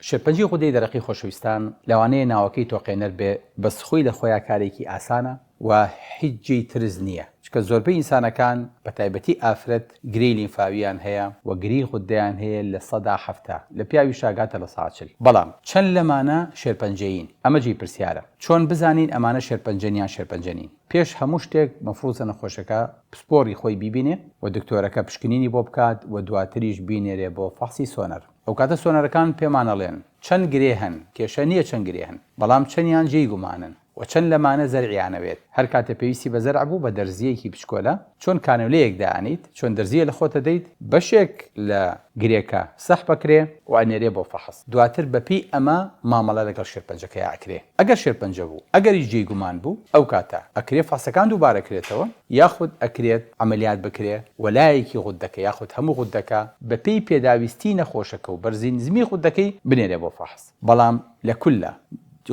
شێرپەنجەی غودەی دەرەقی خۆشەویستان لەوانەیە ناوەکەی تۆقێنەر بێ بەس خۆی لە خۆیا کارێکی ئاسانە و هیچ جێی ترس نییە چونکە زۆربەی ئینسانەکان بە تایبەتی ئافرەت گرێی لیمفاوییان هەیە و گرێی غودەیان هەیە لە سەدا حەفتا لە پیاویشە ئەگاتە لە سەدا چل بەڵام چەند لەمانە شێرپەنجەیین ئەمە جێی پرسیارە چۆن بزانین ئەمانە شێرپەنجەن یان شێرپەنجە نین پێش هەموو شتێک مەفروزە نەخۆشەکە پسپۆری خۆی بیبینێ و دکتۆرەکە پشکنینی بۆ بکات و دواتریش بینێرێ بۆ فەحسی سۆنەر. ئەوکاتە سۆنەرەکان پێمان ئەڵێن چەند گرێ هەن، کێشە نیە چەند گرێ هەن، بەڵام چەندیان جێی گومانن و چەند لەمانە زەرعیان ئەوێت، هەر کاتێ پێویستی بە زەرع بوو بە دەرزییەکی بچکۆلە چۆن کانیۆلەیەک دائەنێیت، چۆن دەرزییە لە خۆت ئەدەیت، بەشێک لە گرێکە سەح بەکرێ و ئەنێرێ بۆ فەحس، دواتر بەپێی ئەمە مامەڵە لەگەڵ شێرپەنجەکەیا ئەکرێ. ئەگەر شێرپەنجە بوو ئەگەریش جێی گومان بوو ئەوکاتە ئەکرێ فحسەکان دووبارەکرێتەوە یاخود ئەکرێت عەمەلیات بکرێ و لایەکی غوددەکە یاخود هەموو غوددەکە بەپێی پێداویستی نەخۆشەکە و بەرزی نزمی غوددەکەی بنێرێ بۆ فەحس بەڵام لە کوللە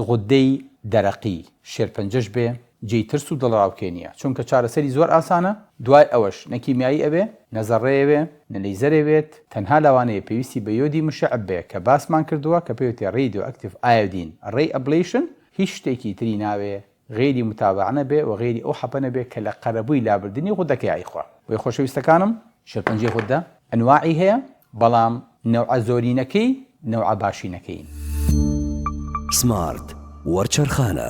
غوددەی دەرەقی شێرپەنجەش بێ جێی ترس و دڵەڕاوکێ نیە چونکە چارەسەری زۆر ئاسانە دوای ئەوەش نە کیمیایی ئەبێ نە زەڕەێ وێ نە لەیزەرێ وێت تەنها لەوانەیە پێویستی بە یۆدی مشەعب بێ کە باسمان کردوە کە پێوتێ ڕیدۆ ئەکتیڤ ئایۆدین ڕەی ئەبلەیشن هیچ شتێکی تری ناوێ غەیری متابعە نەبێ وە غەیری ئەو حەپە نەبێ کە لە قەرەبووی لابردنی غودەکەی ئەیخوا بۆیە خۆشەویستەکانم شێرپەنجەی غودە ئەنواعی هەیە بەڵام نەوعە زۆرینەکەی نەوعە باشینەکەین. سمارت وەرچەرخانە.